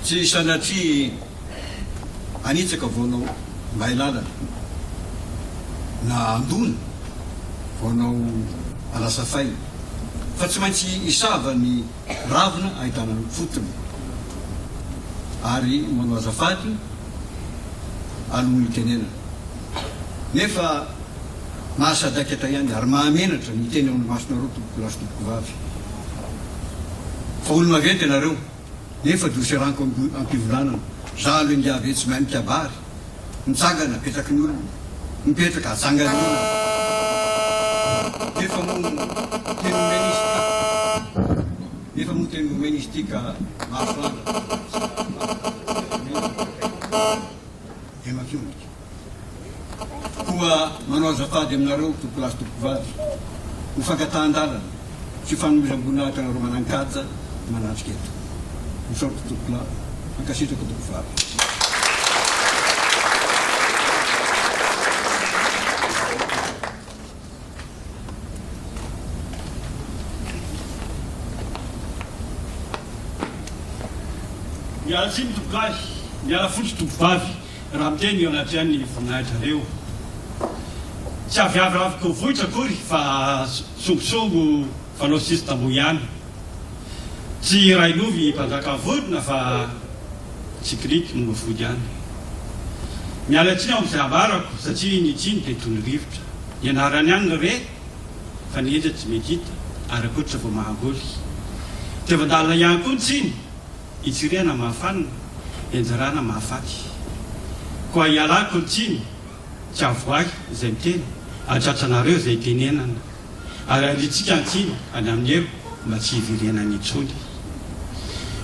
Tsy sanatria hanitsaka vao nao may lalana, na handona vao nao hanasa faina, fa tsy maintsy hisava ny ravina ahitana ny fotony, ary manao azafady alohan'ny hitenenana. Nefa mahasadaikatra ihany ary mahamenatra ny miteny ao amin'ny masonareo tompokolahy sy tompokovavy fa olo-maventy ianareo nefa doseranko am-pivolanana za aloha ingahy ve tsy mahay mikabary mitsangana apetraky ny olona mipetraka ajangan'ny olona nefa moa teny omena izy ity nefa moa teny omena izy ity ka mahasoandra dia mampiombika. Koa manao azafady aminareo tompolahy sy tompovavy ho fankatahan-dalana sy fanomezam-boninahitra anareo manan-kaja manatrika eto. Misaotra tompolahy, mankasitraka tompolahy. Miala tsiny tompolahy, miala fotsy tompovavy. raha miteny eo anatrehan'ny voninahi-drareo. Tsy avy avy raviko vohitra akory fa songosongo fanao sisy tamboho ihany. Tsy railovy mpanjaka vorona fa tsikiriky no mifody any. Miala tsiny aho amin'izay ambarako satria ny tsiny dia toy ny rivotra. Ny anarany ihany no re fa ny hetra tsy mety hita ary ankoatra vao mahamboly. Diavan-dalina ihany koa ny tsiny. Itsirihana mahafanina, enjerana mahafaty. Koa ialako ny tsiny, tsy avoahy izay miteny, hatratranareo izay itenenana, ary handrintsika an-tsiny any amin'ny elo mba tsy hiverenany intsony.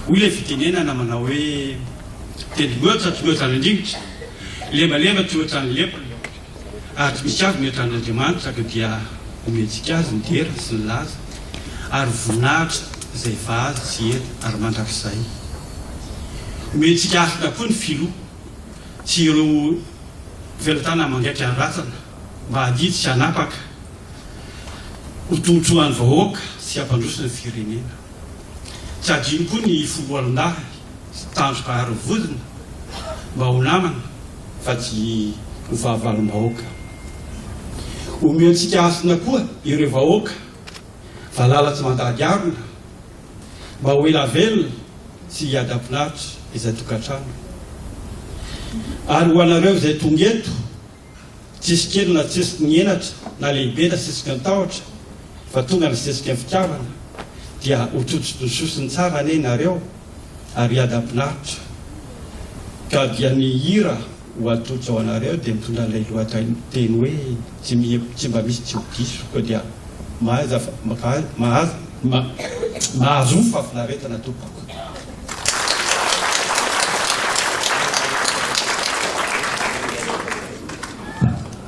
Hoy ilay fitenenana manao hoe, Tendrombohitra tsy mihoatra ny rivotra, lembalemba tsy mihoatra ny lepona. Ary dinikavo ny atrandr'Andriamanitra ka dia omentsika Azy ny dera sy ny laza ary voninahitra izay vazo tsy hety ary mandrakizay. Omentsika Azy daholo ny filoha sy ireo felatanana mangaika ny razana mba hadidika hanapaka ho tombontsoan'ny vahoaka sy hampandroso ny firenena. Tsy adino koa ny foloalindahy sy tandroka ary vozona mba ho namana. fa tsy ho fahavalom-bahoaka. Omentsika hasina koa ireo vahoaka valala tsy mandady harona mba ho ela velona sy hiadam-pinaritra izay tokantrano. Ary ho anareo izay tonga eto, tsisy kely na tsesiky ny henatra na lehibe na sesiky ny tahotra fa tonga ny sesiky ny fitiavana dia ho tsotsotsososiny tsara anie nareo, ary hiadam-pinaritra, ka dia ny hira ho atolotra ho anareo dia mitondra an'ilay lohateny hoe tsy miha tsy mba misy tsy ho diso, koa dia mahaiza mahazo mahazo fahafinaretana tompoko.